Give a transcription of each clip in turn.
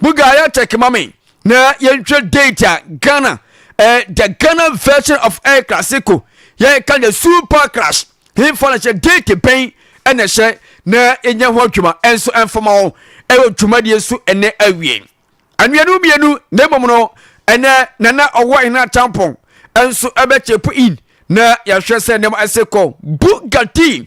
Buga yɛ check ma me na yɛnhwɛ date a Ghana eh, the Ghana version of El Clasico yɛka the super clash hefa na hyɛ date bɛn ɛna hyɛ na yɛnyɛ ho adwuma ɛnso ɛmfama hɔ ɛwɔ dwumadie so ɛnɛ awie anuanu mmienu na mmom no ɛnɛ nana ɔwɔ ɛna tampon ɛnso ɛbɛkyepo in na yɛhwɛ sɛ nneɛma ɛsɛ kɔ Bugatti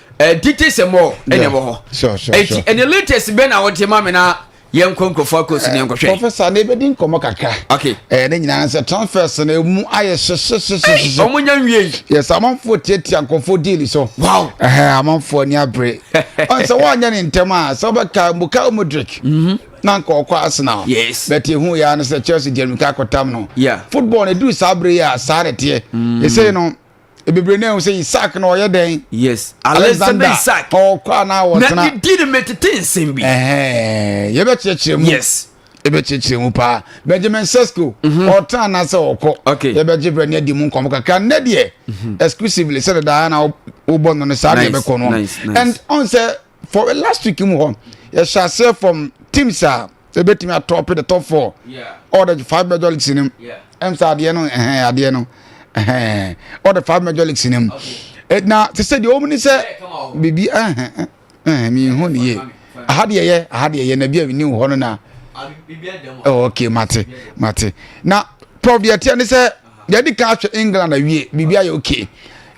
Eh, titi sɛ mɔ ɛna ɛwɔ hɔ ɛti ɛna latest bɛ na ɔte ma mi na yɛn nkɔ nkurɔfoɔ akɔ si ne yɛn nkɔhwɛ. professor ne bɛ di nkɔmɔ kakra. okay ɛɛ ne nyinaa sɛ transfers na emu ayɛ hyehyehyehyehyɛ. ɔmo nya nwie yi. yɛ sɛ amanfoɔ tiatia nkɔfoɔ diili so. wow ɛhɛn amanfoɔ ni abere. ɔn sɛ wɔn anyɛ ne ntɛm a sɛ ɔbɛ ka muka omodric. Mhm. na nka ɔkɔ arsenal. yes bɛte ehu yɛ ano sɛ chelsea jɛrimi kakɔ tam no. yeah football na edu saa abere yɛ a saa na ɛteɛ. Mm. ɛsɛ no. Ebibire na ehu sɛ Isaac na ɔyɛ dɛn. Yes, Alexander Isaac. Ɔkɔ anaa ɔtena. Na ne din metete nsɛm bi. Yɛbɛkyerɛkyerɛ mu. Yes. Yɛbɛkyerɛkyerɛ mu paa. Benjamin Sesko. Mhm. Ɔtena anaa sɛ ɔkɔ. Okay. Yɛbɛgye brɛ ne adi mu nkɔmɔ kakra. Nnɛ deɛ mhm. exclusively sɛ dedaa na wobɔ no no saa deɛ bɛkɔ no. And ɔn sɛ for last week mu hɔ yɛhyɛ aseɛ from teams a ɛbɛtumi atɔpe the top four all the five major leagues no ɛm sɛ adeɛ no ɛhɛn adeɛ no ɛhɛn all the five major leagues no na te sɛ deɛ ɔmu ni sɛ biribi ɛhɛn ɛhɛn mi hu ne yie aha deɛ yɛ aha deɛ yɛ na bi a mi ni hɔ no na ɛwɔ okay mate mate na prof deɛ teɛ ne sɛ yɛde ka ahwɛ england awie biribi ayɛ okay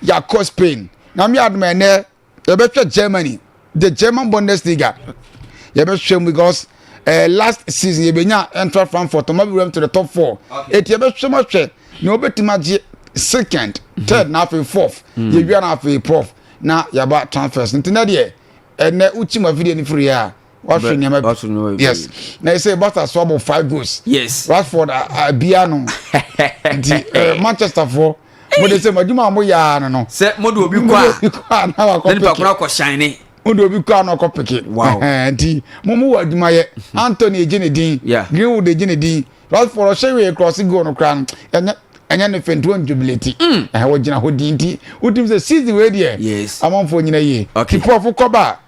yɛakɔ spain na mi adoma ɛnɛ. yɛbɛhwɛ germany the german bundesliga yɛbɛhwɛ mu because uh, last season yɛbɛnya ɛntra frankfurt ɔma bi wɛm to the top four ɛti yɛbɛhwɛ mu ahwɛ na wɔbɛtumi agye second mhm. third na afei fourth mm. yɛwia na afei prof na yɛaba transfers nti na deɛ ɛnɛ wokyim afidie no firi a wɔahwɛ nneɛma bi yes na ɛsɛ bata so abɔ five goals yes rashford abia no nti eh, manchester foɔ mo de sɛ mo adwuma a mo yɛ ara no no sɛ mo de obi kɔ a obi kɔ a na wakɔ peke nipa koro akɔ hyɛn ne mo de obi kɔ a na ɔkɔ peke wow nti mo mo wɔ adwuma yɛ hmm. anthony egye ne din greenwood egye ne din rashford ɔhyɛ wei cross goal no koraa no ɛnyɛ ɛnyɛ ne fɛn tuwɔn jubileti hmm. ɛhɛn wɔgyina hɔ di nti wotum sɛ season wei deɛ amanfoɔ nyina yie ti pɔfo kɔba.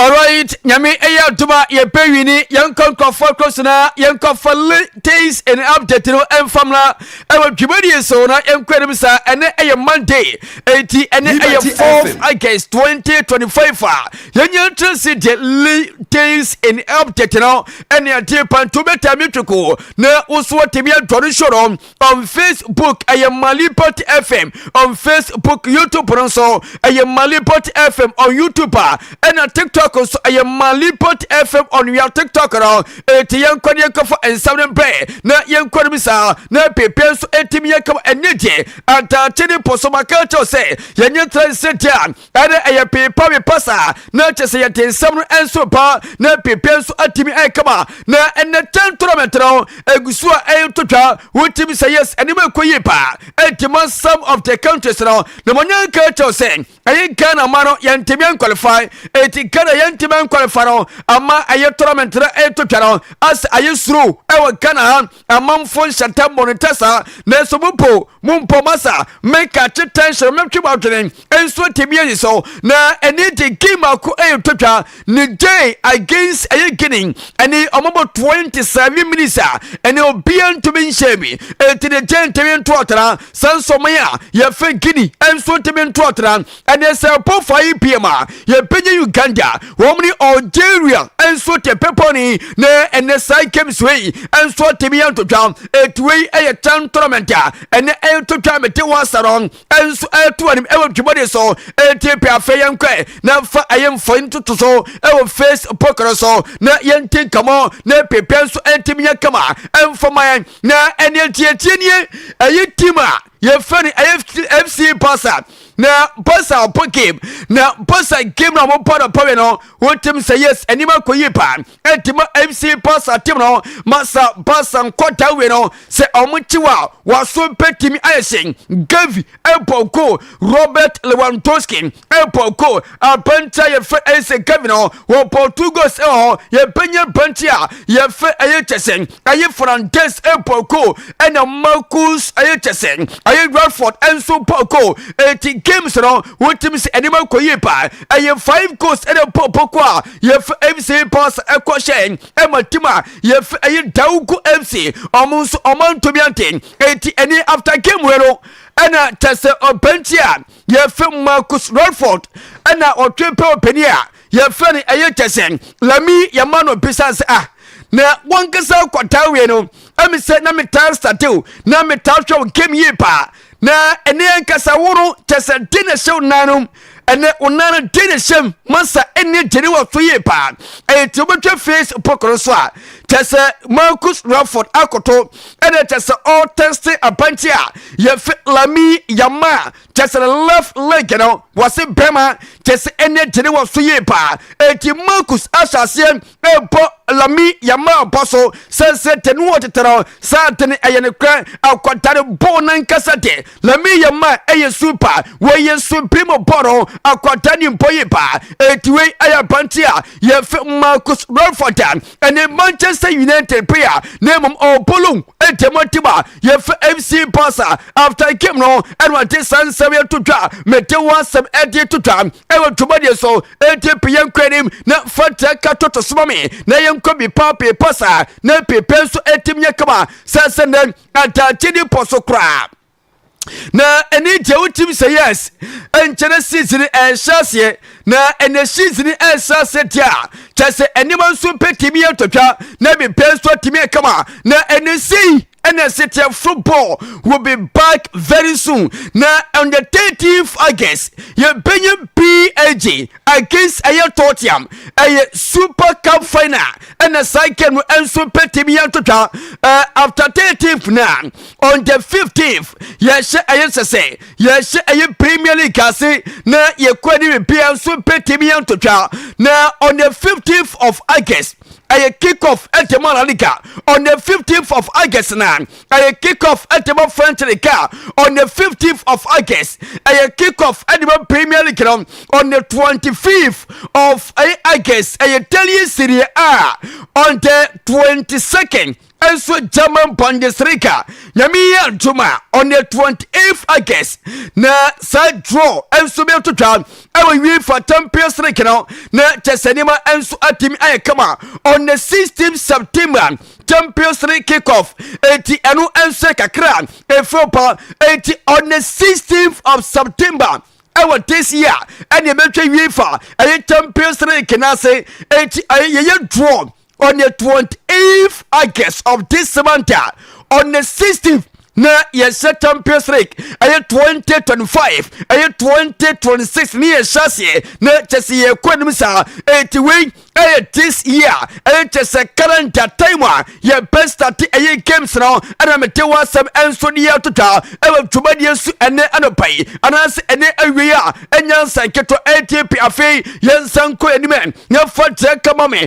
Alright nyame ɛyɛ adom a yɛpɛ wini yɛnkɔ nkurɔfoɔ kros na yɛnkɔ fa latest and update no ɛmfa mmra ɛwɔ dwumadie so na yɛnkɔ anim saa ɛnɛ ɛyɛ monday enti ɛnɛ ɛyɛ 4th august 2025 a yɛnya ntra se deɛ latest and update no ɛne adeɛ panto bɛtaa me tweko na wo so atumi adwane soro on Facebook, ɛyɛ Malipot FM on Facebook, YouTube no nso ɛyɛ Malipot FM on YouTube a ɛna TikTok nso ɛyɛ Malipot FM on wia TikTok no eti yɛn kɔ ne yɛn kɔfa nsɛm no bɛn na yɛn kɔ no bi saa na pepe nso etimi yɛ kama ɛnyɛ gye ataakye ne pɔsɔmaka kyɛw sɛ yɛnyɛ tena nsɛ gye a Ɛnde ɛyɛ peepawepa saa, na kyɛ sɛ yɛte nsɛm no nso pa, na pepe nso atumi ayɛ kama, na ɛnɛ kyɛn torɔmɛnte no egu so a ɛreto twa. Wotumi sɛ yes, ɛnneɛma ɛkɔ yie paa. Ɛnti ma some of the countries no, na ma nya nka kyɛw sɛ ɛyɛ Ghana ma no yɛntumi nkwalify, ɛnti Ghana yɛntumi nkwalify no ama ɛyɛ torɔmɛnte no ɛreto twa no, asɛ ayɛ suro ɛwɔ Ghana ha. Amanfo nhyɛ ntɛm bɔ no ntɛ saa, nanso mo mpo, mompɔ mo asa. Meka kye tension, metwe mo adwene nsuo tebea yi so. Na ɛne de game ako ɛyɛ twatwa, Niger against ɛyɛ Guinea. Ɛne ɔmo bɔ 27 minutes a, ɛne obia ntumi nhyɛ bi. Enti Niger ntumi nto atena, saa nso ɔman a yɛfrɛ Guinea nso ntumi nto atena. Ɛne sɛ po fa yi pm a yɛbɛnya Uganda wɔn ne Algeria nso te bepɔ ne na ɛnɛ saa games wei nso atumi antotwa ɛti wei ɛyɛ chan tournament a ɛnɛ ɛretotwa mete wasa no nso ɛreto anim ɛwɔ dwumɔde so ɛti pɛ afɛ yɛn kɔɛ na fa ɛyɛ mfɔni toto so ɛwɔ Facebook no so na yɛn ti nkamo na pepɛ nso ɛntumi yɛ kama ɛmfɔma yɛn na ɛne ɛti ɛti nie ɛyɛ team a yɛfrɛ no FC, FC Barca na Barca ɔpɔ game na Barca game na wɔpɔ no pɔwe no wotim sɛ yes anim akɔ yie paa ɛti ma FC Barca team no ma sa Barca nkɔta wie no sɛ wɔn kyi wa wɔaso bɛtumi ayɛ sɛ Gavi ɛbɔ goal Robert Lewandowski airport ko apanti a yɛfrɛ ɛyɛ sɛ kevin hɔ wɔ portugals ɛwɔ hɔ yɛbɛnya apanti a yɛfrɛ ɛyɛ kyɛ sɛ ɛyɛ fernandes airport ko ɛna marcus ɛyɛ kyɛ sɛ ɛyɛ radford ɛnso pɔ ko ɛti games no wotumi sɛ ɛnima kɔ yie paa ɛyɛ five goals ɛna pɔpɔ ko a yɛfrɛ mc pass ɛkɔ hyɛ ɛma tim a yɛfrɛ ɛyɛ daugo mc ɔmo nso ɔmo antumi ante ɛti ɛni after game wɛ no ɛna kyɛ sɛ ɔpanti a yɛfrɛ mu marcus redford ɛna ɔtwe pɛ ɔpani a yɛfrɛ no ɛyɛ kyɛ sɛ lami yɛma no bisa sɛ ah na wankasa kɔtaa wie no ɛmi sɛ na metaa statew na metaa hwɛ wo game yie paa na ɛne ankasa wo no kyɛ sɛ de na ɛhyɛ wo nan no ɛnɛ wo nan no de na ɛhyɛm masa ɛne gyene wɔ so yie paa ɛyɛ ti wobɛtwa face pokoro so a kyɛ sɛ marcus redford akoto ɛna kyɛ sɛ ɔtɛste abankye a yɛfɛ lami yama kyɛ sɛ left leg no wɔse bɛma kyɛ sɛ ɛne gyene wɔ so yie paa eti marcus ahyɛ aseɛ ɛbɔ lami yama bɔ so sɛnsɛ te no ɔtete no saa te no ɛyɛ ne korɛ akɔdare bɔɔ nankasa de lami yama ɛyɛ super wɔyɛ suprim bɔ no akɔda ne mpɔ yie paa eti wei ɛyɛ abankye a yɛfɛ marcus ralford ɛne Manchester United player na mmom ɔpolo ntam ɔtem a yɛfɛ FC Barca after game no ɛna ɔde saa nsɛm yɛ to dwa mete ho asɛm ɛde to dwa ɛwɔ dwumadie so ɛti pe yɛn kɔ anim na fatia ka toto soma me na yɛnkɔ bi paa pee pasa na pepe nso ɛtim nyɛ kama sɛ sɛ nɛ ataakye ne pɔ so koraa na ɛne deɛ wotim sɛ yes ɛnkyɛ na season ɛrehyɛ aseɛ na ɛnɛ season ɛrehyɛ aseɛ deɛ a kyɛ sɛ nneɛma nso bɛtumi atwatwa na biribiara nso atumi akama na ɛnɛ sei ɛna ɛsɛ football will be back very soon na on the 13th august yɛbɛnya bag against ɛyɛ tottenham ɛyɛ super cup final ɛna saa game no nso bɛtumi atwatwa uh, after 13th na on the 15th yɛhyɛ ɛyɛ sɛ sɛ yɛhyɛ ɛyɛ premier league ase na yɛkɔ ne bibia nso bɛtumi yɛ ntotwa na on the 15th of august ɛyɛ kick off ɛtɛmɔ la liga on the 15th of august na ɛyɛ kick off ɛtɛmɔ french liga on the 15th of august ɛyɛ kick off ɛtɛmɔ premier league no on the 25th of ɛyɛ august ɛyɛ daily serie a on the 22nd nso German Bundesliga nyame yi antom a on the 28th August na saa draw nso bɛto twa ɛwɔ UEFA Champions League no na kyɛ sɛ nneɛma nso atumi ayɛ kama on the 16th September Champions League kickoff eti ɛno nso kakra efiri pa eti on the 16th of September ɛwɔ this year ɛna ɛbɛtwa UEFA ɛyɛ Champions League n'ase eti ɛyɛ yɛyɛ draw on the 28th August of this month a on the 16th na yɛhyɛ champions league ɛyɛ 2025 ɛyɛ 2026 ne yɛhyɛ aseɛ na kyɛ sɛ yɛkɔ anim saa ɛti wei ɛyɛ this year ɛyɛ kyɛ sɛ calendar time a yɛbɛ start ɛyɛ games no ɛna mete wɔ asɛm ɛnso ne yɛ atotwa ɛwɔ dwumadie so ɛnɛ anɔpa yi anaasɛ ɛnɛ awie a ɛnya nsa nketewa ɛti pi afei yɛnsa nkɔ anim yɛmfa kyerɛ kama me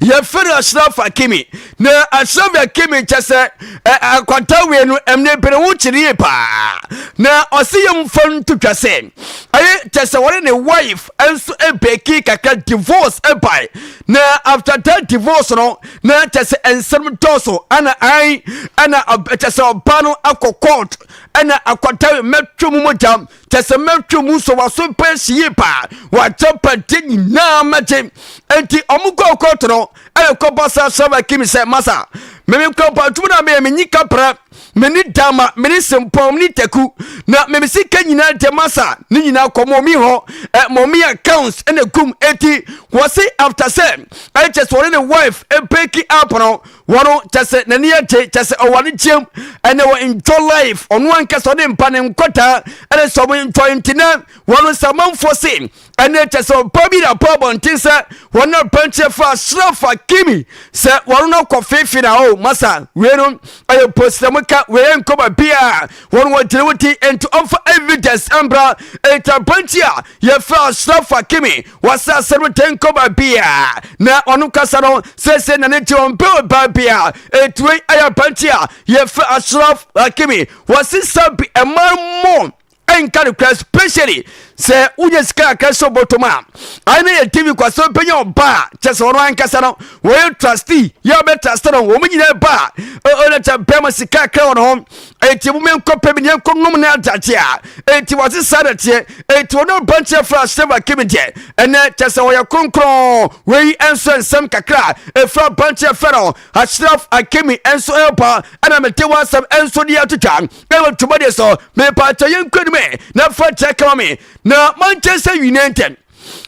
yɛfrɛ no ashraf hakimi na ashraf hakimi kyɛ sɛ akwata wie no ɛmne bere wo kyere yie paa na ɔse yɛmfa nto twa sɛ ɛyɛ kyɛ sɛ wɔne ne wife nso ɛbɛki kakra divorce ɛbae na after that divorce no na kyɛ sɛ nsɛm dɔɔso ana an ɛna kyɛ sɛ ɔba no akɔ court ɛna akwata mɛtwe mu mogya kyɛ sɛ mɛtwa mu sɛ waso pɛ si yie paa wagya pagye nyinaa mɛgye enti ɔmo kɔ kɔɔto no ɛna kɔba sa sɛba kim sɛ masa meme nkɔmpa adwuma no a meyɛ menyi kapra mene dama mene sempɔm ne taku na meme sika nyinaa deɛ masa ne nyinaa kɔ mɔmi hɔ ɛ mɔmi accounts ɛna gum enti wɔse after sɛ ɛkyɛ sɛ ɔne ne wife ɛpɛki apono wɔn kyɛ sɛ n'ani agye kyɛ sɛ ɔwɔ anigyeɛm ɛnɛ wɔ enjoy life ɔno ankasa ɔde mpa ne nkwadaa ɛne sɛ ɔmo enjoy nti nɛ wɔn sɛ amanfoɔ se ɛne kyɛ sɛ ɔpa bi na pa abɔnten sɛ wɔn na pɛnkyɛ fa asrafa kimi sɛ wɔn no kɔ fefe na o masa wei no ɛyɛ posi na moka wei yɛ nkɔma bi a wɔn wɔ gyina wo ti nti ɔmfa evidence ɛmbra ɛnti pɛnkyɛ a yɛfrɛ asrafa kimi wɔsase no tenko baabi a na ɔno kasa no sɛsɛ na ne gye wɔn bɛ ɔbaa bi a ɛtuwe ayɛ aberante a yɛfrɛ asraf hakimi wɔsesa bi ɛma mu ɛnka no kora especially sɛ wonya sika kakra sɛ ɔbɔtɔm a ɛne yɛ tv kwasɛ bɛnya ɔba a kyɛ sɛ ɔno ankasa no wɔyɛ trustee yɛ ɔbɛ trust no wɔn nyinaa ba a ɔna kyɛ bɛma sika kakra wɔ no ho enti mo menkɔ pɛ me yɛnkɔ nom ne adagye a enti wɔse saa na teɛ enti wɔne ɔbankyɛ fra Steve Akimi deɛ ɛnɛ kyɛ sɛ wɔyɛ kronkron wei nso nsɛm kakra ɛfira ɔbankyɛ fra no Ashraf Akimi nso ɛba ɛna mete wɔ asɛm nso de atwitwa ɛwɔ dwumadeɛ so mepaakyɛ yɛnkɔ anim ɛ na fa kyɛ kama me na mankyɛ sɛ nwinɛ ntɛn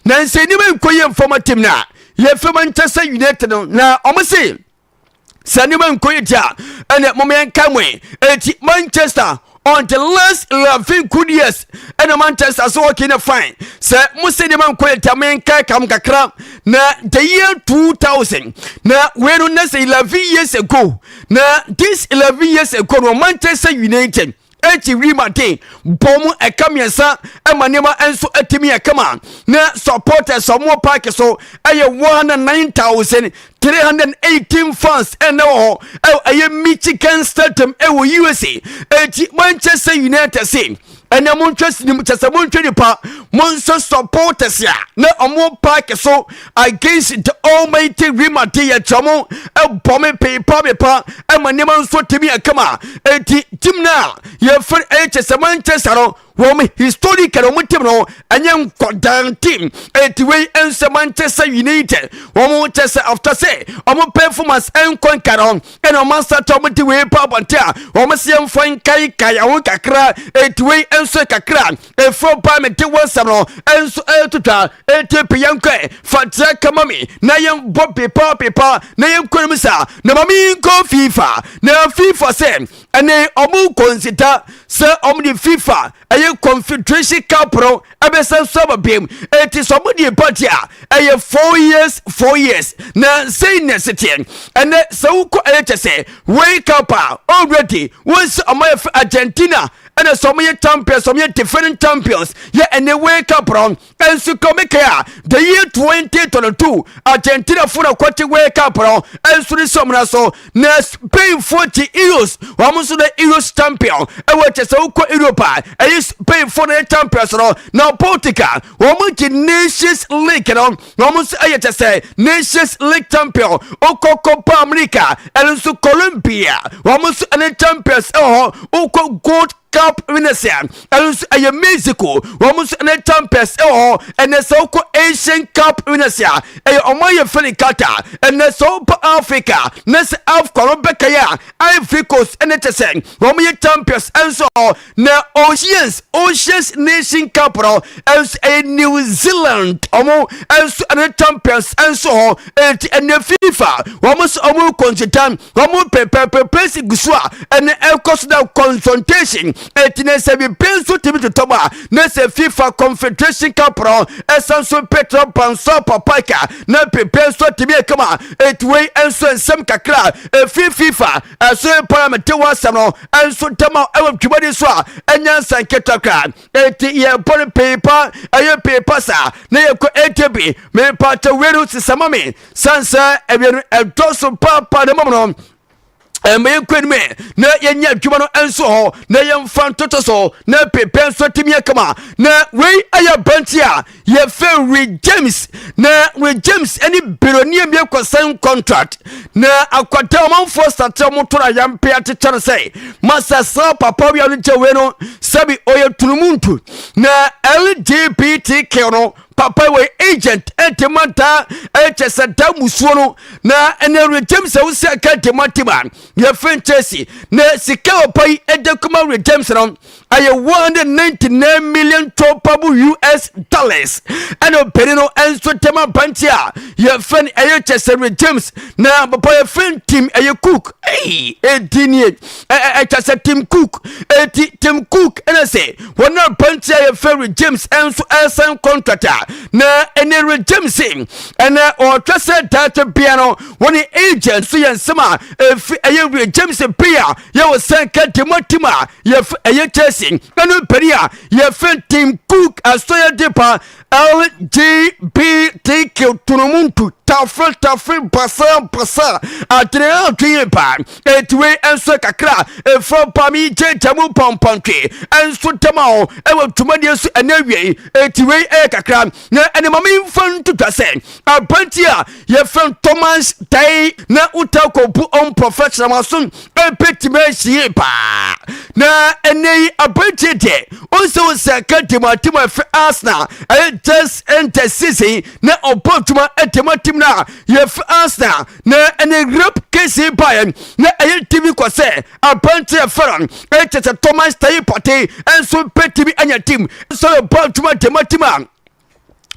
na nsɛ nneɛma nkɔ yɛ mfam atim no a yɛfiri mankyɛ sɛ nwinɛ te no na ɔmo se sɛ nneɛma nkɔ yɛ gya ɛnna mom yɛn ka mo eti manchester on the last eleven good years ɛnna manchester so hockey na fine sɛ mo sɛ nneɛma nkɔ yɛ gya mo yɛn ka kam kakra na the year two thousand na wei no na sɛ eleven years ago na this eleven years ago no manchester united. enti wim aden bɔ mu ɛka mmiɛnsa ma nneɛma nso atumi akama na supporters a wɔwɔ park so ɛyɛ one hundred nine thousand three hundred eighteen fans ɛna wɔ hɔ ɛyɛ Michigan Stadium ɛwɔ USA eti Manchester United se ɛnna mo ntwa sinim kyɛ sɛ mo ntwa nipa mo nso supporters a na wɔn park so. Against the almighty rima te yɛ kyerɛ mo ɛbɔ me peepa me pa ɛma nneɛma nso tumi akama eti tim no a yɛfrɛ ɛyɛ kyɛ sɛ Manchester no wɔn historic na wɔn tim no ɛnyɛ nkɔdan tim eti wei ɛnsɛ Manchester United wɔn kyɛ sɛ after sɛ wɔn performance ɛnkɔ nka no ɛna wɔn asata wɔn ti wei pa abɔnten a wɔn si ɛnfa nkaekae ɛho kakra eti wei ɛnso kakra Efro ba me de wo nsɛm no nso ɛreto twa enti pe yɛn kɔ fa dira kama me na yɛn bɔ pepa pepa na yɛn kɔ nim sa na ma me nkɔ fifa na fifa sɛ ɛne ɔmo kɔnsita sɛ ɔmo de fifa ɛyɛ confederation cup no ɛbɛsan so aba biem enti sɛ ɔmo de ba deɛ ɛyɛ four years four years na sɛn na ɛseteɛ ɛnɛ sɛ wokɔ ɛyɛ kyɛ sɛ wei cup a already wɔn sɛ ɔmo yɛ fɛ argentina ɛna sɛ ɔmo yɛ champions ɔmo yɛ defending champions yɛ ɛnɛ wei cup no nso ka ɔmo kaya the year twenty twenty two argentina fo na kɔte wei cup no nso ne sɛ ɔmo na so na spain fo te euros wɔn nso na euros champion ɛwɔ kyɛ sɛ wokɔ europe a ɛyɛ spain fo na yɛ champions no na portugal wɔn te nations league no na wɔn nso yɛ kyɛ sɛ nations league champion wokɔ copa america ɛno nso colombia wɔn nso ne champions wɔ hɔ wokɔ gold cup winners a ɛno nso ɛyɛ mexico wɔn nso ne champions wɔ hɔ ɛnɛ sɛ wokɔ asian cup winners a ɛyɛ wɔn ayɛ fɛ ne qatar ɛnɛ sɛ wokɔ africa ne sɛ afcon no bɛkɛyɛ a ivory coast ɛne kyɛ sɛ wɔn yɛ champions nso wɔ hɔ Na Oceans Oceans Nation Cup no nso ɛyɛ New Zealand ɔmo nso ɛne champions nso hɔ eti ɛnɛ FIFA wɔn nso ɔmo kɔnsita ɔmo pɛpɛpɛ pɛsi gu so a ɛnɛ ɛkɔ so na consultation eti na sɛ bibi nso tumi totɔ mu a na sɛ FIFA Confederation Cup no ɛsan so pɛtrɛ pansɔ papaika na pɛpɛ nso tumi ɛkama eti wei nso nsɛm kakra efi FIFA ɛso mpo na mete ho asɛm no nso ntɛm a ɛwɔ dwumadi so a ɛnyɛ nsɛnketa koraa enti yɛbɔ no pii pa ɛyɛ pii pa saa na yɛkɔ ɛnti bi mepa kyɛ wei no sesa ma me sane sɛ ɛwie no ɛdɔ so paapa na mmom no ɛma yɛnkɔ anim na yɛnyɛ adwuma no nso hɔ na yɛmfa ntoto so na pepɛ nso atumi akama na wei ɛyɛ bɛnti a yɛfrɛ Rick James na Rick James ne Beronia bi akɔsan contract na akɔda ɔmanfoɔ sakyerɛ mo to no ayampe akyekyɛ no sɛ masasa papa wia no gya wei no sɛbi ɔyɛ tunumuntu na LGBTQ no papa wɔ agent ɛde ma daa ɛkyɛ sɛ da musuo no na ɛnɛ Rick James a wosi aka de ma tiba yɛfrɛ nkyɛsi na sika ɔpa yi ɛde kuma Rick James no ɛyɛ one hundred ninety nine million tɔpabo us dollars ɛna ɔpanin no nso tɛm aberanteɛ a yɛfrɛ no ɛyɛ kyɛsɛre james na papa yɛfrɛ no tim ɛyɛ cook ɛyi ɛdi nie ɛkyɛsɛ tim cook ɛti tim cook ɛna sɛ wɔn a aberanteɛ a yɛfrɛ no james nso ɛsan contract a na ɛne re james ɛna ɔtwa sɛ daate bea no wɔne agent so yɛ nsɛm a ɛfi ɛyɛ re james bea yɛwɔ sɛn ka demo tim a yɛf ɛyɛ Chelsea ɛno mpanin a yɛfɛn Tim Cook asɔyɛ de pa LGBTQ tonomuntu tafe tafe basa basa adwene adwene pa eti wei nso kakra efa ba mi gye gya mu pampantwe nso dɛm a ɛwɔ dwumadie so ɛnɛ wie eti wei ɛyɛ kakra Na ɛne ma memfa nto dwa sɛ aberante a yɛfrɛ no Thomas tae na wotaa kɔbu ɔmporɔfo asram so bɛtumi asi yie paa. Na ɛnnɛ yi aberante deɛ ɔnsɛ wo sɛ ka di mu atem a ɛfɛ Arsenal ɛyɛ just enter season na ɔbɔ adwuma ɛde ma tim no a yɛfrɛ Arsenal na ɛne Europe kesi baeɛ na ɛyɛ timi kɔ sɛ Aberante a yɛfrɛ no Ecese Thomas Taye Partey nso betumi anya tim sɛ ɔbɔ adwuma de ma tim a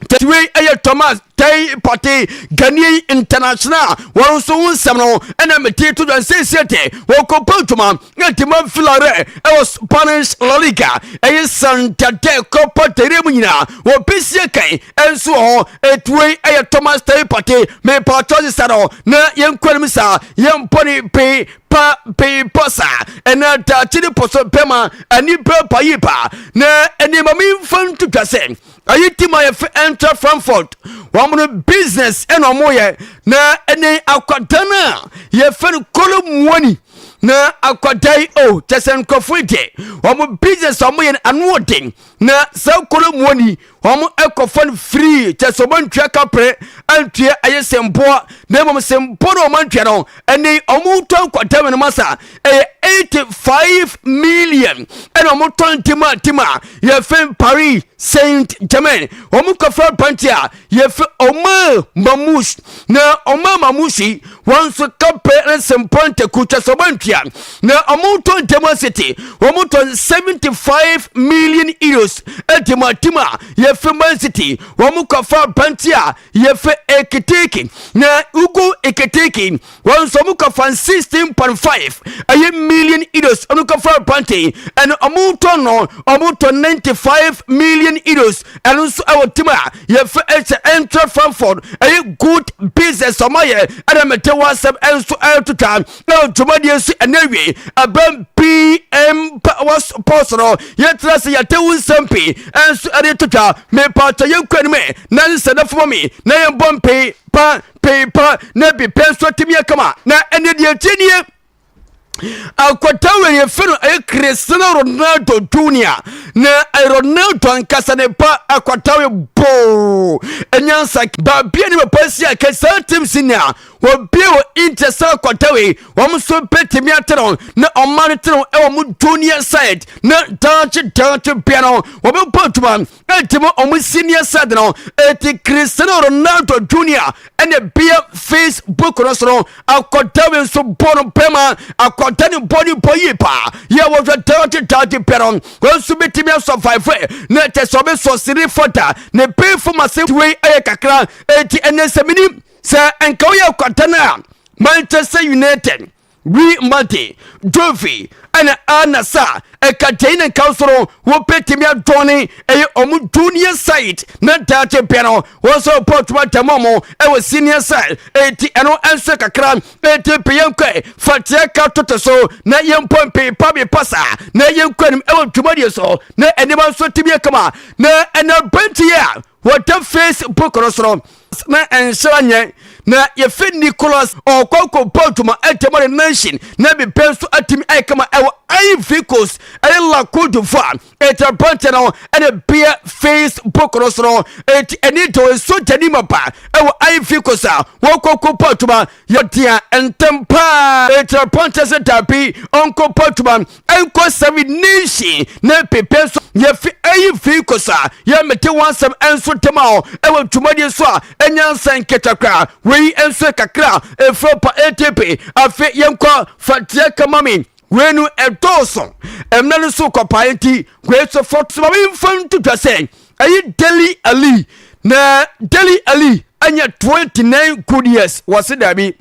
Tete wei yɛ Thomas Tay Partey Ghanaian international wɔn nso ho nsɛm no ɛna mete to dwan siesie de wɔkɔbɔ adwuma de ma Villarreal ɛwɔ Spanish La Liga ɛyɛ Santander Copa del Rey mu nyinaa wɔbɛsie kan ɛnso wɔ hɔ ɛti wei yɛ Thomas Tay Partey mepatɔ sesa no na yɛnkɔ anim saa yɛmpɔ ne pee pa pii pa sa ɛna daakye ne pɔsɔ bɛma ani bɛ pa yi pa na nneɛma mi nfa nto dwa sɛ ayi ti ma yɛfɛ ɛntra frankfurt wɔn no business ɛna wɔn yɛ na ɛnɛ akwadaa no a yɛfɛ no kolo muoni na akwadaa yi o kyɛ sɛ nkurɔfoɔ yi deɛ wɔn business a wɔn yɛ no ano ɔden na saa kolo muoni wɔn kɔfa no firii kyɛ sɛ wɔntua kapere antua ɛyɛ sɛ mpoa na mmom sɛ mpo na wɔantua no ɛne wɔtɔn kwatami no masa ɛyɛ 85 million ɛna wɔtɔn tima tima yɛfɛ paris saint germain wɔn kɔfa pante a yɛfɛ ɔma mamus na ɔma mamus yi Wɔn nso campaign ne sempɔ ntaku kyɛ sɛ ɔbɔ ntua na wɔn tɔ demo asete wɔn tɔ 75 million euros demo atim a yɛfɛ man city wɔn kɔfa abante a yɛfɛ ekitiki na ugu ekitiki wɔn nso wɔn kɔfa 16.5 ɛyɛ million euros wɔn kɔfa abante ɛna wɔn tɔ no wɔn tɔ 95 million euros ɛno nso ɛwɔ tim a yɛfrɛ ɛhyɛ ɛntrɛ frankfurt ɛyɛ good business ɔma yɛ ɛna mete wɔ asɛm ɛnso ɛretotwa na dwumadie nso ɛna awie ɛbɛn pm wɔ pɔs no yɛtena sɛ yɛte wo nsɛm pii ɛnso ɛde totwa mepatɔ yɛnkura no mu ɛ na ne sɛ nafoma me na yɛmbɔ mpee pa pee pa na bi pɛ nso atumi akama na ɛne deɛ ɛtie nie Akwata wei yɛfɛ no ɛyɛ Cristiano Ronaldo Junior na eh, Ronaldo ankasa ne ba akwata wei boo ɛnyansa baabi a ne papa si a kɛsaa tim si nea wɔbie wɔ Inter sɛ akwata wei wɔn nso bɛtumi ate no na ɔma no te no ɛwɔ mo junior side na daakye daakye bia no wɔbɛbɔ adwuma Enti mo ɔmo senior said no eti Cristiano Ronaldo Junior ɛna bia Facebook no so no akɔda wei nso bɔ no bɛma akɔda ne bɔ ne bɔ yie paa yɛ wɔhwɛ daagye daagye bɛ no wei nso betumi asɔvaive na ɛkyɛ sɛ ɔbɛsɔsere fɔda ne bɛɛfo ma se wei ɛyɛ kakra eti ɛnɛ sɛ menim sɛ nka woyɛ akɔda no a Manchester United Bri Mante, Jovi ɛna Ana Sa ɛka dei ne nka soro wo bɛtumi adɔne ɛyɛ ɔmo junior side na daakye bɛ no wɔn sɛ ɔpɔ ɔtuma dɛm ɔmo ɛwɔ senior side ɛti ɛno ɛnso kakra ɛti pɛ yɛn kɔ fateɛ ka tote so na yɛn pɔ mpe pa bi pa saa na yɛn kɔ anim ɛwɔ dwumadie so na ɛnima nso tibie kama na ɛna bɛnti yɛ Wɔda face book no so no. Na ɛnhyɛ nyɛ na yɛfɛ Nicholas ɔkɔ akɔbɔ adwuma ɛdɛm ɔde nanhyin na bibɛ nso atumi ayɛ kama ɛwɔ Ivory Coast ɛne La Côte d'Ivoire ɛti aberanteɛ no ɛna beɛ face book no so no ɛti ɛni dɔ ɛso gyani ma ba ɛwɔ Ivory Coast a wɔkɔ akɔbɔ adwuma yɛdea ntɛm paa ɛti aberanteɛ sɛ dabi ɔnkɔbɔ adwuma ɛnkɔ sɛm nishi ne pepe so yɛfi ayi fi kosa yɛ mete wɔn asɛm ɛnso tema hɔ ɛwɔ dwumadie so a ɛnya nsɛ nketa koraa wei ɛnso kakra ɛfiri pa atp afe yɛnkɔ fateɛ kama me wei no ɛdɔɔso ɛmna no so kɔpae nti wei so fɔ so ma memfa ntotwa sɛ ɛyi deli ali na deli ali ɛnyɛ 29 good years wɔse daabi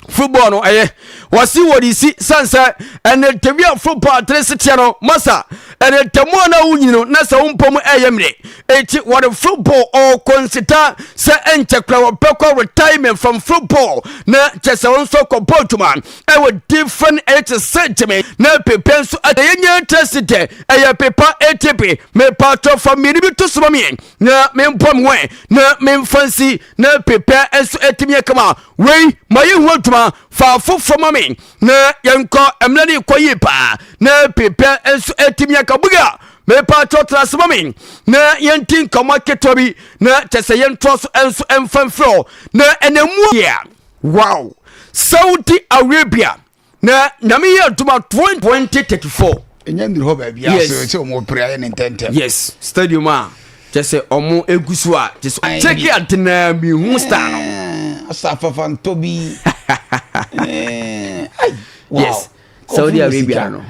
football no ɛyɛ wɔsi wɔde si san sɛ ɛnɛ ntɛmu a football atere seteɛ no masa ɛnɛ ntɛmu a na wonyini no na sɛ wompɔ mu ɛyɛ mmerɛ eti wɔde football ɔkɔ nseta sɛ ɛnkyɛ kora wɔbɛkɔ retirement from football na kyɛ sɛ wɔn nso kɔ bɔ adwuma ɛwɔ different ɛyɛ te sɛ gyeme na pepe nso ɛyɛ nyɛ tɛ si dɛ ɛyɛ pepa etepe mepatɔ fa mmienu bi to soma mmienu na mempɔ me wɛn na memfa nsi na pepɛ nso atumi akama wei ma yɛ ho adwuma fa foforɔ ma me na yɛnkɔ mmerɛ ne kɔ yie paa na pepɛ nso atumi aka buga mepa kyɛw tena ase ma me na yɛnti nkɔmmɔ ketewa bi na kyɛ sɛ yɛntoa so nso mfa mfrɛ na ɛnɛ mu yeah. wow saudi arabia na nyame yɛ adwuma 2034 ɛnyɛ nnuru hɔ baabi yes. asɛ sɛ ɔmo pere ayɛ ne ntɛntɛm yes stadium a kyɛ sɛ ɔmo egu so a kyɛ sɛ ɔkyɛke adenaa mi hu star no eh, asafafa ntɔ bi eh, yes saudi arabia no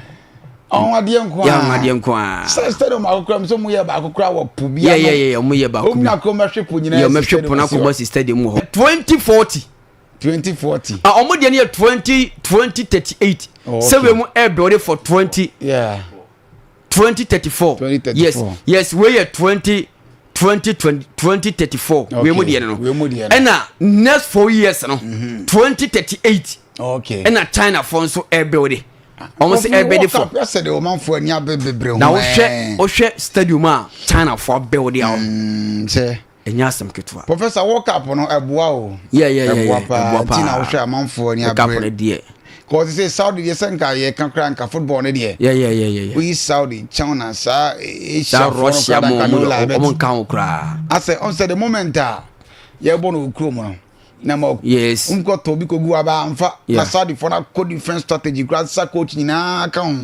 ɔho adeɛ nko a ɔho adeɛ nko a sɛ stadium akokora mu sɛ ɔmo yɛ baako kora wɔ po bi ano yɛ yɛ yɛ ɔmo yɛ baako bi ɔmo yɛ akokora ɔmo ahwɛ po nyinaa yɛ ɔmo ahwɛ po na akokora si stadium wɔ hɔ twenty forty. twenty forty. a wɔn deɛ no yɛ twenty twenty thirty eight sɛ wei mu ɛɛdɔre for twenty twenty thirty four yes yes wei yɛ twenty twenty twenty thirty four wei mu deɛ no ɛna next four years no mm-hmm. twenty thirty eight ɛna china fo nso ɛɛbɛwde wɔn sɛ ɛɛbɛde fo na wohwɛ wohwɛ stadium a china fo abɛwde a wɔn. Ɛnyɛ asɛm ketewa. Professor world cup no ɛboa o. Yeah yeah yeah. Ɛboa paa. Ɛboa paa. Ti na wohwɛ amanfoɔ ni abere. World cup no deɛ. Kɔɔ sɛ Saudi deɛ sɛ nka yɛ ka kora nka football no deɛ. Yeah yeah yeah yeah. Woyi Saudi kyɛw na saa Asia foɔ no kora nka no la ɛbɛ. Wɔn nka ho kora. Asɛ ɔn sɛ the moment a yɛ bɔ no okuro mu no. Na ma yes. Nkɔ tɔ bi kogu aba anfa. Na Saudi foɔ no akɔ different strategy kora sa coach nyinaa ka ho.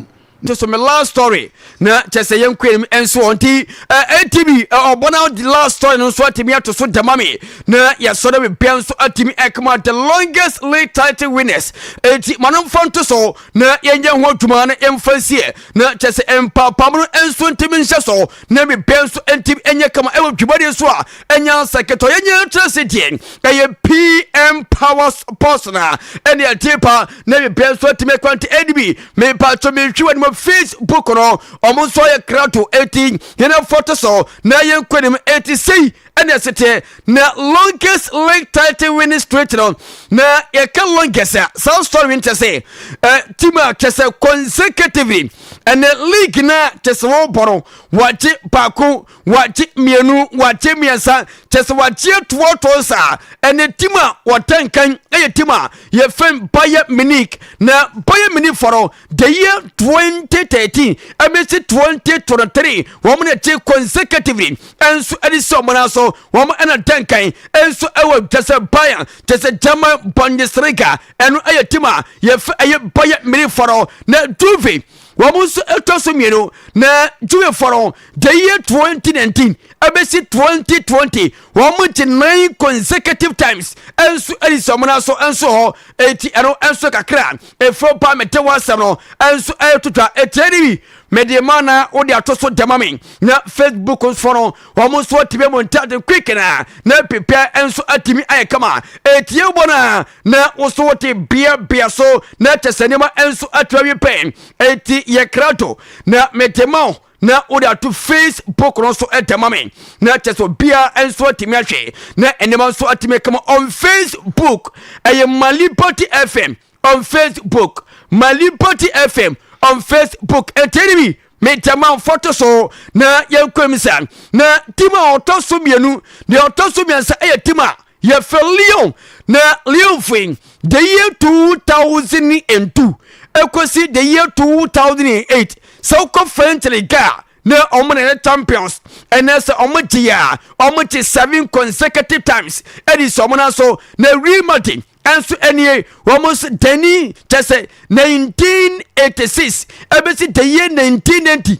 nti so me love story na kyɛ sɛ yɛn kwan mu nso wɔn ti ɛti bi ɔbɔ na the love story no nso atumi ato so dɛma me na yɛsɔre me bɛn nso atumi ɛkama the longest lead title winners ɛti ma no mfa nto so na yɛnyɛ ho adwuma na yɛmfa nsie na kyɛ sɛ mpaapam no nso ntumi nhyɛ so na me bɛn nso ntumi ɛnyɛ kama ɛwɔ dwumadi nso a nyansa ketɔyɛ nyɛ kyerɛ se deɛ ɛyɛ pm powers post na ɛne ɛte pa na bibia nso atumi kwante ɛne bi mepatwo mehwe wɔ anim facebook no ɔmo nso ayɛ krato ɛti yɛne foto so na yɛ nkwanim ɛti sei ɛne ɛseteɛ na longest link title winning street no na yɛka longest a saa story nkyɛ sɛ ɛ team a kyɛ sɛ consecutively ɛne league na kyɛ sɛ wɔbɔ no wɔagye baako Wakye mmienu, wakye mmiɛnsa, kyɛ sɛ wakye toɔtoɔ saa. Ɛnɛ tim a wɔtɛnkan yɛ tim a yɛfɛn Bayern Munich. Na Bayern Munich fɔ no, the year 2013 ɛbɛsi 2023, wɔn na ɛkye consecutively. Ɛnso ɛde si wɔn nan so, wɔn ɛna tɛnkan. Ɛnso ɛwɔ kyɛ sɛ Bayern, kyɛ sɛ German Bundesliga, ɛno ɛyɛ tim a yɛfɛ ɛyɛ Bayern Munich fɔ no. Na Juve wɔn nso ɛtɔ so mmienu na jewifoɔ no the year 2019 ɛbɛsi 2020 wɔn gye nine consecutive times ɛnso ɛdi sɛ wɔn aso ɛnso hɔ eti ɛno ɛnso kakra efuro ba mete ho asɛm no ɛnso ɛretwitwa etie ni bi mede ma na wode ato so dɛma me na facebook nso no wɔn nso atumi mu ntade quick na na pepɛ nso atumi ayɛ kama etie bɔ na na woso wote beabea so na ɛkyɛ sɛ nneɛma nso atu awi pɛn enti yɛ krato na mede ma wo na wode ato facebook no so ɛdɛ ma me na ɛkyɛ sɛ obiara nso atumi ahwɛ na nneɛma nso atumi kama on facebook ɛyɛ malipati fm on facebook malipati fm on facebook ɛtɛni bi metɛma mfɔto so na yɛnkɔm sa na tim a ɔtɔ so mmienu deɛ ɔtɔ so mmiɛnsa ɛyɛ tim a Yɛfɛ Lyon na Lyovo the year 2002 ɛkɔsi the year 2008 sɛ wokɔ French Ligue a na wɔn na yɛ champions ɛnɛ sɛ wɔn gye a wɔn gye seven consecutive times ɛdi sɛ wɔn aso na Real Madrid ɛnso ɛnie wɔn nso dani kyɛ sɛ 1986 ɛbɛsi the year 1990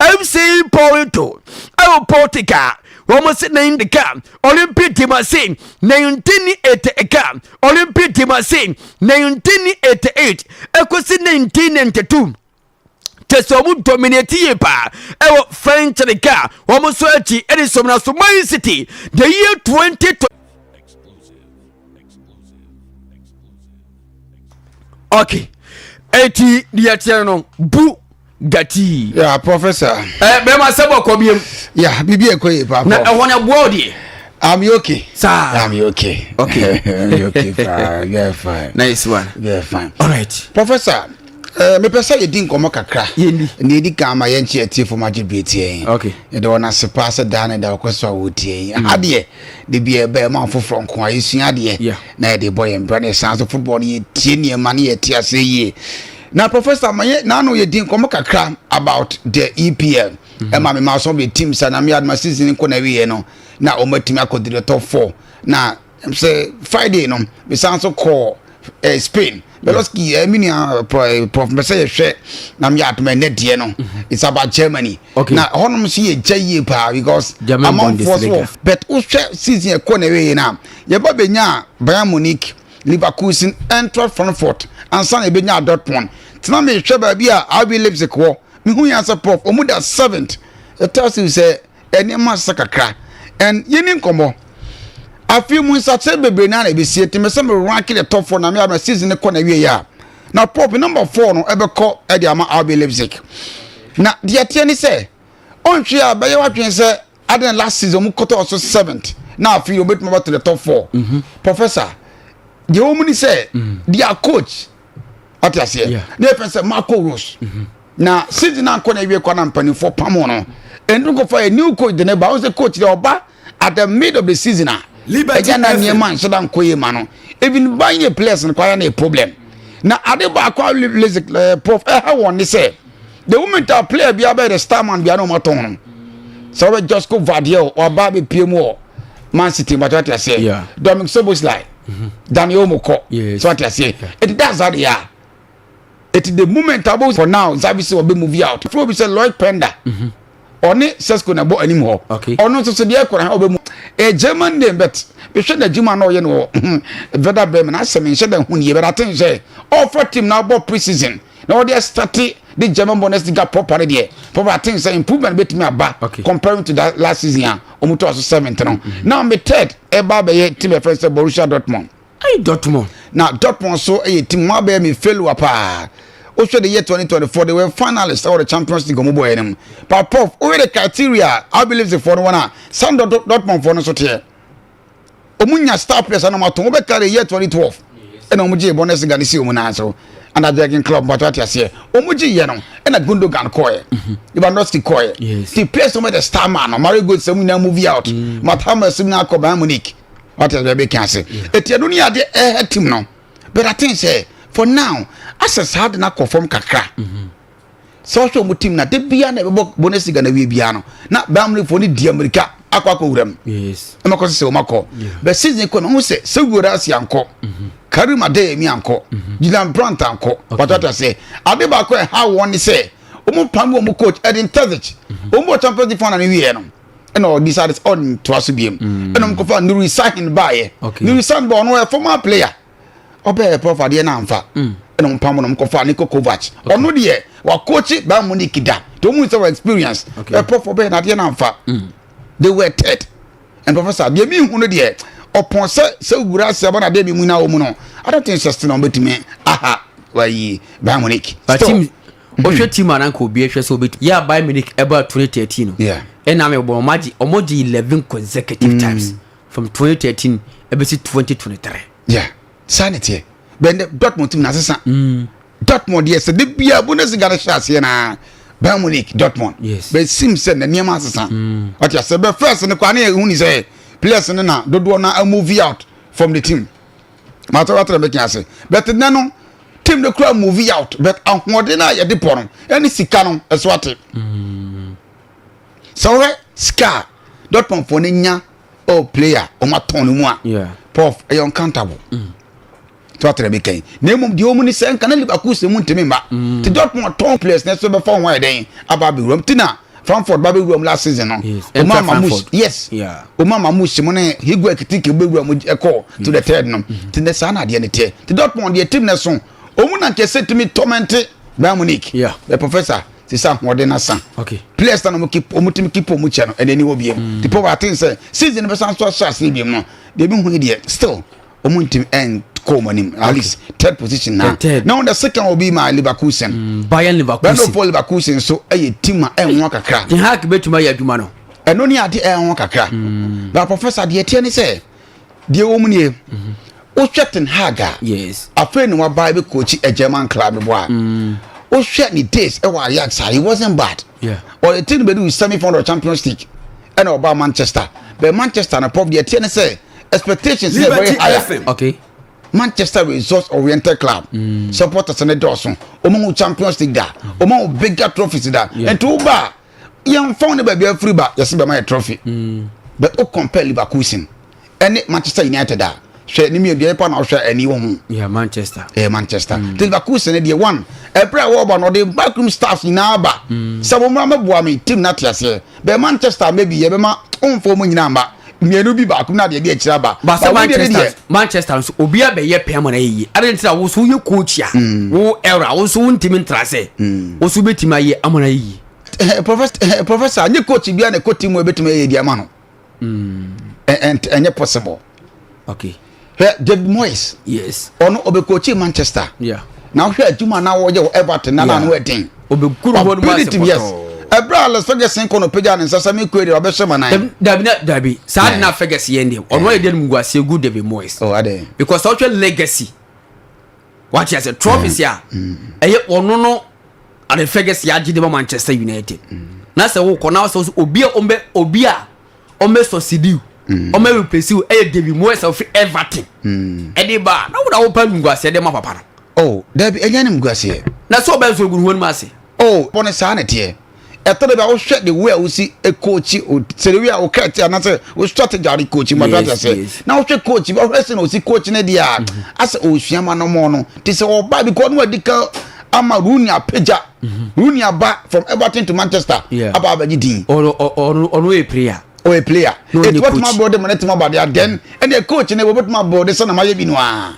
FC Porto ɛwɔ Portugal wɔn se ne ndeka Olympic de ma se ne ntini ete eka Olympic de ma se ne ntini ete eight ekosi ne ntini ne ntetum kyɛ sɛ wɔn dominate yie paa ɛwɔ french league a wɔn nso akyi ɛde sɔm na so man city the year twenty twenty. okay eti deɛ teɛ no bu. Gati. Yeah, professor. Eh, bema sebo ko biem. Yeah, bibi e ko ye papa. Na e wona boa odie. I'm okay. Sir. I'm okay. Okay. I'm okay. Fine. Yeah, fine. Nice one. Yeah, fine. All right. Professor, eh, mepɛ sɛ yɛdi nkɔmmɔ kakra ne ɛdi kan ma yɛnkye atiefo ma gye bere tiɛ yɛn yɛde wɔn ase paa sɛ daa ne da wɔkɔ so a wɔtiɛ yɛn adeɛ de bi ɛbɛɛ ma foforɔ nko a yɛsua adeɛ na yɛde bɔ yɛn bra ne ɛsan so football no yɛtie nneɛma ne yɛte ase yie Na professor ma yɛ n'ano yɛ di nkɔmɔ kakra about the EPL. Ɛma mhm. mi ma some of the teams na mi adama season nkɔ na ewie no na wɔn atumi akɔ di the top four na sɛ Friday no mi san so kɔ eh, Spain. Beloski mhm. eh, mi nua eh, prof eh, mbɛsɛ yɛ hwɛ na mi yɛ adama ɛnɛ deɛ no mhm. it's about Germany. Okay. Na hɔnom so yɛ gya yie paa because amanfoɔ so wɔ bet wohwɛ season ɛkɔ na ewie na yɛ ba bɛ nya Bayern Munich. Leverkusen, Eintracht Frankfurt ansa na yɛbɛnyaa Dortmund. Nti na mehwɛ baabi a RB Leipzig wɔ. Mehu yɛn sɛ prof, ɔmu da seventh. It tells you sɛ nneɛma asesa kakra. And yɛni nkɔmmɔ. Afei mu nsakyerɛ bebree naa na ɛbɛsie. Nti mesɛ me rank the top four na me ama season ne kɔ na wieɛ a. Na prof, number four no ɛbɛkɔ ɛde ama RB Leipzig. Na deɛ ɛteɛ ne sɛ, ɔnhwɛ a bɛyɛ w'adwene sɛ Adana last season ɔmo kɔtɔ ɔso seventh na afei ɔmo betuma ba to the top four. Mhm. Professor deɛ wɔn mu ni sɛ mhm. their coach ɔte aseɛ na yɛ fɛn sɛ Marco Rose mhm. na season na nkɔ na ewie kɔ na mpanimfoɔ pam no ɛnu nkɔfa yɛ new coach de ne ba wɔn sɛ coach deɛ ɔba at the mid of the season a ɛgya na nneɛma nhyɛ da nkɔ yie ma no even ban yɛ players no kɔ ayɛ na yɛ problem na ade baako a eh, prof ɛha wɔn ne sɛ. the moment a player bi abɛyɛ the star man bi a na wɔn atɔn no sɛ wɔbɛ Josko Vardiel waba abɛpie mu wɔ Man City bàtɛ wate aseɛ Dominic Soboslai mhm. Daniel Olmo kɔ sɛ wate aseɛ ɛti da azade yɛ a ɛti the moment a bɛ for now Xavi sɛ wɔbɛ movie out fúlọ̀ bi sɛ Lloyd Pender mhm. ɔne Sesko na ɛbɔ anim hɔ ɔno nso so deɛ ɛkora ɔbɛ mu ɛ German name but bɛhwɛ n'adwuma na ɔyɛ no wɔ Werder Bremen asɛm nhyɛ dɛ ho nie bɛrɛ ate nhyɛ ɔfa team na abɔ pre season na wɔde ɛstate de German Bundesliga proper no deɛ proper I think sɛ improvement betumi aba okay. comparing to that last season a wɔn to aso seventh no mm-hmm. now me third ɛba abɛyɛ team ɛfɛn sɛ Borussia Dortmund. ayi Dortmund. na Dortmund so ɛyɛ team wɔn abɛyɛ mi failure paa wohwɛ the year 2024 they were finalists ɛwɔ the champions league ɔmo bɔɔyɛ no mu but prof woyɛ the criteria I believe the no wɔn a san Dortmund fɔ no so teɛ. wɔn nya star players anam ato wɔn bɛka de yɛ twenty twelve ɛna wɔn gye bɔnɛs nga ne si wɔn nan so ɛna jɛgin club bɔtɔ ate aseɛ wɔn gye yɛ no ɛna gundogan kɔɛ lewandowski kɔɛ ti players wɔn de star man no mario gold sɛm nyinaa move out mm. matama sɛm nyinaa kɔ bayern munich ate aseɛ bɛbi kan ase eti ɛno ni ade ɛhɛ team no but i think sɛ for now asɛ saa de na kɔ fam kakra. Mm -hmm. sɛ ɔhwɛ wɔn tim na de bia na ɛbɛbɔ Bundesliga na wie bia no na Bayern Munich fo ne di Amerika akɔ akɔ wura mu ɛma kɔ sɛ wɔn akɔ bɛ season kɔ na wɔn sɛ sɛ wura ase ankɔ mhm. Karim Adeyemi ankɔ mhm. Julian Brandt ankɔ watata sɛ ade baako ɛha wɔn ne sɛ wɔn pam wɔn coach Edin Terzic mhm. wɔn bɔ Champions League final ne wie no ɛna ɔdi sa ɔntoa so biem ɛna wɔn kɔfa Nuri Sahin baayɛ Nuri Sahin ba ɔno yɛ former player. ɔbɛyɛ pɔfo adeɛ no amfa mm. ɛna ɔmpam no mkɔfa ne kokovac ɔno deɛ wakɔkye baa mu nik da nti ɔmu sɛ experience ɛpɔfo ɔbɛyɛ no adeɛ no amfa mm. they were ted and professor deɛ mehu no deɛ ɔpɔn sɛ sɛ wura sɛ ɔba na deɛ bi mu na wɔmu no i don't think sɛ na ɔbɛtumi aha wayi baa mu nik still wohwɛ mm. team ananka obi ɛhwɛ sɛ obɛtumi yɛ a baa mu nik ɛbaa 2013 no ɛna me bɔ ɔmagye 11 consecutive times from 2013 ɛbɛsi 2023. yeah saa na ɛteɛ bɛn dɛ dortmund tim na asesa mm. dortmund yɛ sɛ de bia bundesliga no hyɛ aseɛ naa bayern munich dortmund yes. bɛsim sɛ na nneɛma asesa mm. ɔte asɛ bɛ first no koraa ne yɛhu ni sɛ players no na dodoɔ no amovi out from the team matɔratara bɛka ase but nɛ no team no kura movie out but ahoɔden no a yɛde pɔ no ɛne sika no ɛso ate mm. sɛ wohwɛ sika a dortmund fɔ no nya ɔ player wɔn atɔn no mu a prof ɛyɛ uncountable mm. tí wàá tẹ̀lé mi kẹ́yìn na emu deɛ wɔn ni sɛ nka na liverpool sɛ mu ntumi mba mm. ti dortmund atɔn players na ɛsɛ bɛfa wɔn ayɛ dɛn aba abɛwura mu ti na frankfurt ba bɛwura mu last season no wɔn ama mu yes wɔn ama mu si mu ne higuain kitiki bɛwura mu ɛkɔ mm. to the third no mm-hmm. ti na saa na adeɛ ne teɛ ti dortmund deɛ team na so wɔn na nkɛse tumi tɔmɛnte bayern munich ɛ professor. te sɛ ahoɔden asa okay players na wɔn keep wɔn team keep wɔn kyɛ no ɛna ɛni hɔ biem mm. tipo wa aten sɛ season bɛ san so ahyɛ ase biem no deɛ ebi hu yi deɛ still wɔn team ɛn kɔ wɔn anim at least third position na na wɔn de second wɔ bi ma Leverkusen mm, Bayern Leverkusen bɛn n'ofo Leverkusen so ɛyɛ team a ɛn ho kakra ten hag bɛtuma yɛ adwuma no ɛno ni ade ɛn ho kakra mm. na professor deɛ tiɛ ni sɛ. deɛ ɛwɔ mu nie wohwɛ ten hag a afei na waba bɛ coach a german club no bo a mm. wohwɛ ne days ɛwɔ eh, ajax a he wasn't bad ɔde ten bɛdu semi final of champions league ɛna eh, ɔbaa manchester bɛ manchester no pɔp deɛ ɛteɛ ne sɛ expectations yɛ very higher okay. manchester results oriented club mm. supporters ne dɔɔso ɔmo ho champions league da ɔmo ho bigger trophies da nti woba a yɛmfa ne baabi afiri ba yɛse bɛma yɛ trophy mm. but o compare liverpool sin ɛne manchester united a hwɛ ne mmienu deɛ pa na ɔhwɛ ani wɔ ho ɛyɛ manchester ɛyɛ manchester mm. liverpool sin deɛ one ɛberɛ a wɔba no ɔde backroom staff nyinaa ba mm. sɛ mo mmra mɛboa me team no ate aseɛ bɛɛ manchester maybe yɛbɛma ɔmfa ɔmo nyinaa mba mmienu bi baako na deɛ ɛde akyire aba ba sɛ manchester manchester nso obi abɛyɛ pɛn ma na yɛyie adan ti na wo nso woyɛ coach a mm. wo era wo nso wontumi ntra sɛ mm. wo nso wobɛtumi ayɛ ama na yɛyie eh, eh, eh, professor nye coach bia na ɛkɔ team mu ɛbɛtumi ayɛ di ama no ɛnyɛ possible okay hwɛ david moyes yes ɔno ɔbɛkɔkyi manchester yeah. na wohwɛ adwuma na wɔyɛ wɔ everton na naano ɛden ɔbɛditm yes ɛberɛ a les ferguson kɔ no pagya ne nsa sɛ me kɔɛ deɛ ɔbɛhyɛ ma nan dabi na dabi saa de na ferguson yɛn deɛ ɔno ayɛ deɛ no mu guaseɛ gu david moyes oh, because ɔhwɛ legacy wate asɛ trophies mm. a mm. ɛyɛ ɔno no ade ferguson agye de ma manchester united mm. na sɛ wokɔ na sɛ obi a ɔmbɛ obi a ɔmɛ sɔsidiw ɔmɛ replace ɛyɛ david moyes a ɔfiri everton ɛde ba a na wɔn na wɔpɛ animguaseɛ de ma papa no. o dabi ɛnyɛ animguaseɛ. na sɛ ɔbɛn so egu ne ho anim ase. o bɔ ne saa na ɛteɛ ɛtɔ de bi a wohwɛ de wo a wosi ekoochi o sɛdewi a woka ɛte anasɛ wo strategy a wɔde koochi mu ati ase na wohwɛ koochi bi ɔhwɛ sɛ na osi koochi ne deɛ asɛ osua ma no mɔ no te sɛ ɔba bi kɔ no adi kan ama runi apagya. wo nua ba from everton to manchester aba abɛgye din ɔno yɛ player ɔyɛ player ɛti wɔtumi abɔ de ma no tumi aba de adɛn ɛdeɛ coach no wɔbɛtumi abɔ de sɛ na mayɛ bi no a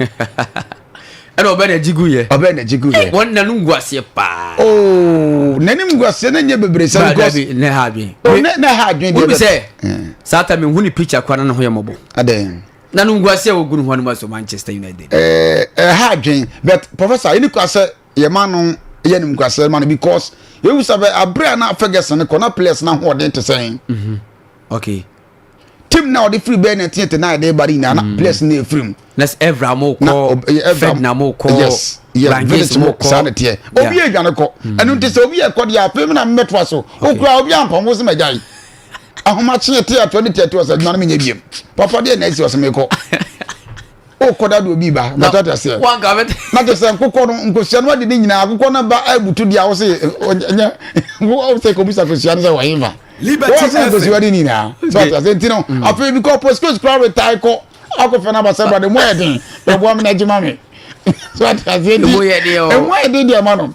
ɛna ɔbɛ na gyigu yɛ ɔbɛ na gyigu yɛ wɔn na no ngu aseɛ paa ooo na ne ngu aseɛ na nyɛ bebree sɛ because ne ha adwen o ne ne ha adwen deɛ sɛ saa ta mi hu ne picture kora na ne ho yɛ mɔbɔ adɛn na no ngu aseɛ wɔ gu ne ho anum aso manchester united ɛɛ ɛha adwen but professor ɛni kɔ asɛ yɛma no yɛ animguaseɛ ma no because yɛhu sɛ bɛ aberɛ a na Ferguson kɔ na players no ahoɔden te sɛn mhm. okay tim na ɔde firi bɛɛ na ɛteɛ te na ɛde ba no nyinaa na mm. players no ɛfiri mu na ɛvra mo kɔ fed na mo kɔ yes village mo saa na teɛ obi yɛ adwane kɔ mm. ɛno nti sɛ obi yɛ kɔ deɛ afei na mmɛtoa so okura obi ampam wo sɛ magya yi ahomakye teɛ atoɔ ne teɛ atoɔ sɛ adwane menyɛ biam papa deɛ na ɛsi ɔsɛ mekɔ o kɔda do obi ba na tata sɛ na tɛ sɛ nkokɔ no nkosua no adi ne nyinaa akokɔ no ba abutu di a wo se nyɛ wo sɛ kɔ bisa kosua no sɛ wɔ hefa wɔ se nkosua di nyinaa so ata sɛ nti no mm. afei bi kɔ postcoach kora retae kɔ akɔfɛ no abasɛ brade mu ɛden bɛboa me no agyima me so ata sɛ nti ɛmu ɛden deɛ ma no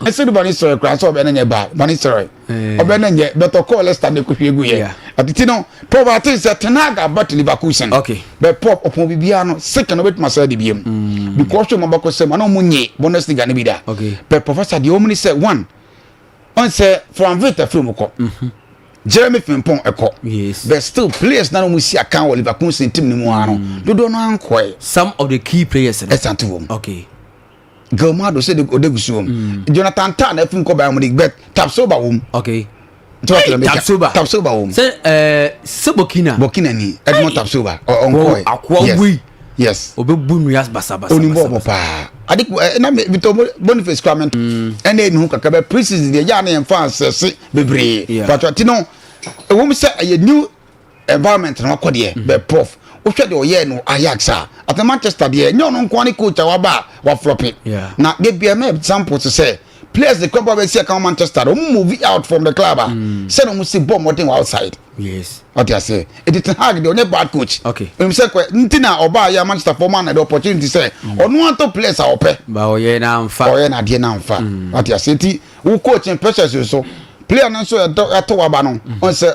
ɛsɛ de bɔne srɛ koraa sɛ ɔbɛ no nyɛ baa bɔne srɛ ɔbɛ no nyɛ but ɔkɔɔ lester no ɛkɔhwie gu yɛ ɛtete no pɔb ate sɛ tenaga but leverkusen bɛ pɔb ɔpɔn biribiara no sika no bɛtumi asɛ de biam mm. because ɔma bɛkɔ sɛ ma na ɔmo nye bundesliga no bi da bɛ professor deɛ ɔmo ne sɛ one ɔn sɛ franvit afiri mu kɔ mhm. jeremy fimpong ɛkɔ but still players na ɔmo si akan wɔ leverkusen team no mu ano mm. dodoɔ no ankɔɛ some of the key players ɛsanto wɔm okay Gilmado sɛ ɔda gusu wɔm mm. Jonathan Tah na afim kɔ Bayern Munich but Tapsoba wɔm okay tapsoba tapsoba wɔm sɛ ɛɛ sɛ Burkina Burkina ni Edmond Tapsoba ɔnkɔɛ yes yes ɔbɛbu nnua basabasa onim bɔ ɔbɔ paa ade ɛ na bitɔ Boniface kura mɛnto ɛna ɛni ho kakra bɛ pre-season deɛ yɛ a na yɛn fa asɛse bebree pàtó ti no ɛwɔ mu sɛ ɛyɛ new environment na wakɔ deɛ bɛ prof wohwɛ deɛ ɔyɛɛ no ajax a ate manchester deɛ ɛnyɛ ɔno nkoa ne coach a waba a waflɔpe na de bia ma example te sɛ players de kɔba bɛsi ɛka manchester no ɔmo move out from the club a mm. sɛ na ɔmo si bɔ mmɔden wɔ outside yes ɔte ase ɛti te hag deɛ ɔnyɛ bad coach okay ɛmu sɛ kɔ nti na ɔbaa yɛ manchester fɔ ma na de opportunity sɛ mm. ɔno atɔ players a ɔpɛ ba ɔyɛ na nfa ɔyɛ na deɛ na nfa mm. ɔte ase ɛti wo coach pressures so player no nso ɛtɔ waba no ɔn sɛ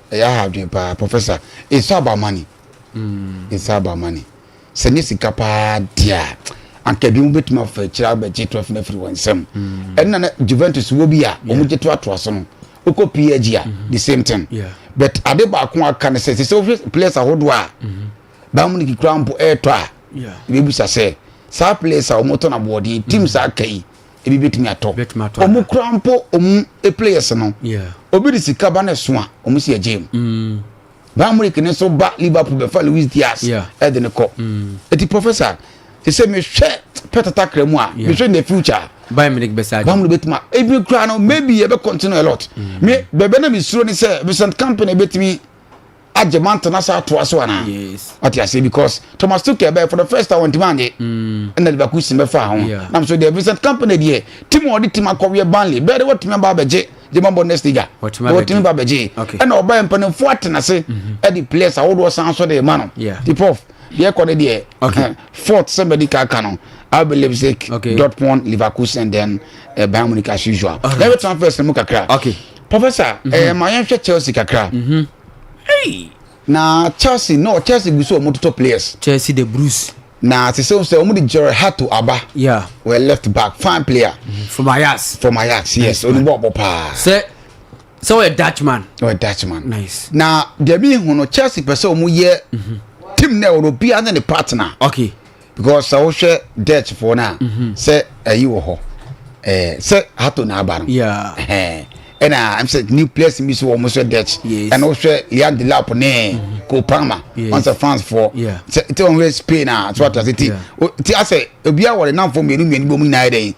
Ɛyɛ aha adwene paa professor it's all about money mm. it's all about money sɛ ne sika paa deɛ a anka ebi mu betumi afa akyire abɛgye trɔfi no afiri wɔn nsam mm. ɛnna na Juventus wɔ bi a wɔn gye to atoa so no wokɔ PSG a mm-hmm. the same thing but ade baako aka ne sɛ sɛ wohwɛ players ahodoɔ a mm-hmm. Bayern Munich kura mpo ɛretɔ a ebi bisa sɛ saa players a wɔtɔ no aboɔden teams mm-hmm. aka yi ebi betumi atɔ ɔmo kura mpo ɔmo players no obi de sika ba na ɛso a ɔmo si ɛgye mu mm. baamurik ne nso ba liverpool bɛfa louis diaz ɛde ne kɔ mm. eti professor ɛsɛ mehwɛ pɛtata kra mu a mehwɛ in the future bayern munich bɛ saa bayern munich bɛ tuma ebi kura no maybe yɛ bɛ continue a lot mm. me bɛbɛ na mi suro ni sɛ vincent company bɛ tumi agye ma ntena saa atoa so anaa wate aseɛ because thomas tukel bɛyɛ for the first time ɔntumi anye mm. ɛna liverpool si mɛfa ho nam so deɛ vincent company deɛ tim a ɔde tim akɔweɛ banley bɛɛ de wɔtumi aba abɛgye gyema bɔ next liga wɔtumi ba bɛgye ɛna ɔbɛyɛ mpanimfoɔ atena ase ɛde mm-hmm. players ahodoɔ san so de ma no de prof deɛ kɔ ne deɛ eh, fourth sɛ medical ka no RB Leipzig, okay. Dortmund, Leverkusen, then uh, Bayern Munich as usual. Right. Let me transfer some kakra. Okay. Professor, mm -hmm. eh, ma yɛnhwɛ Chelsea kakra. Mm -hmm. hey. Na Chelsea, no, Chelsea gu so wɔn toto players. Chelsea the Bruce. Na te sɛ sɛ wɔn de Gerard Hato aba. Yeah. Wɔ left back, fine player. Mm -hmm. From Ajax. From Ajax, yes. Oni bɔ ɔbɔ paa. Sɛ sɛ ɔyɛ Dutchman. Ɔyɛ Dutchman. Nice. Na deɛ mi hu no Chelsea pɛ sɛ wɔn yɛ team na ɛwɔ no obiara ne ne partner. Okay. because sɛ wohwɛ dutch foɔ no a mhm. sɛ ayi wɔ hɔ eh, sɛ hato na aba no ɛna ɛm sɛ nucleus bi so wɔ mo sɛ dutch ɛna wohwɛ lian de lap ne mhm. kopama wɔn sɛ france foɔ sɛ ɛte wɔn hwɛ spain a so ata sɛ ti ti asɛ obiara wɔ ne namfoɔ mmienu mmienu bɔ mu nyinaa yɛ dɛn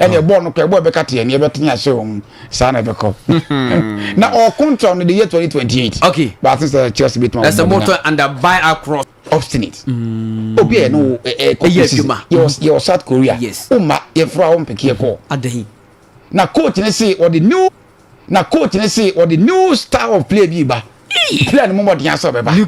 ɛne ɛbɔɔ no kɔ ɛbɔɔ ɛbɛka teɛ ne ɛbɛtene ahyɛ wɔn mu saa na ɛbɛkɔ hmm. na ɔkontra no de yɛ 2028 okay baate sɛ chelsea bɛtuma ɛsɛ motɔ under by across obstinate hmm. obi a ɛno ɛyɛ adwuma yɛwɔ south korea yes woma yɛforo a wɔmpeke ɛkɔ adahi na coach ne se ɔde new na coach ne se ɔde new style of play bi ba player no mu mɔden asɛ ɔbɛba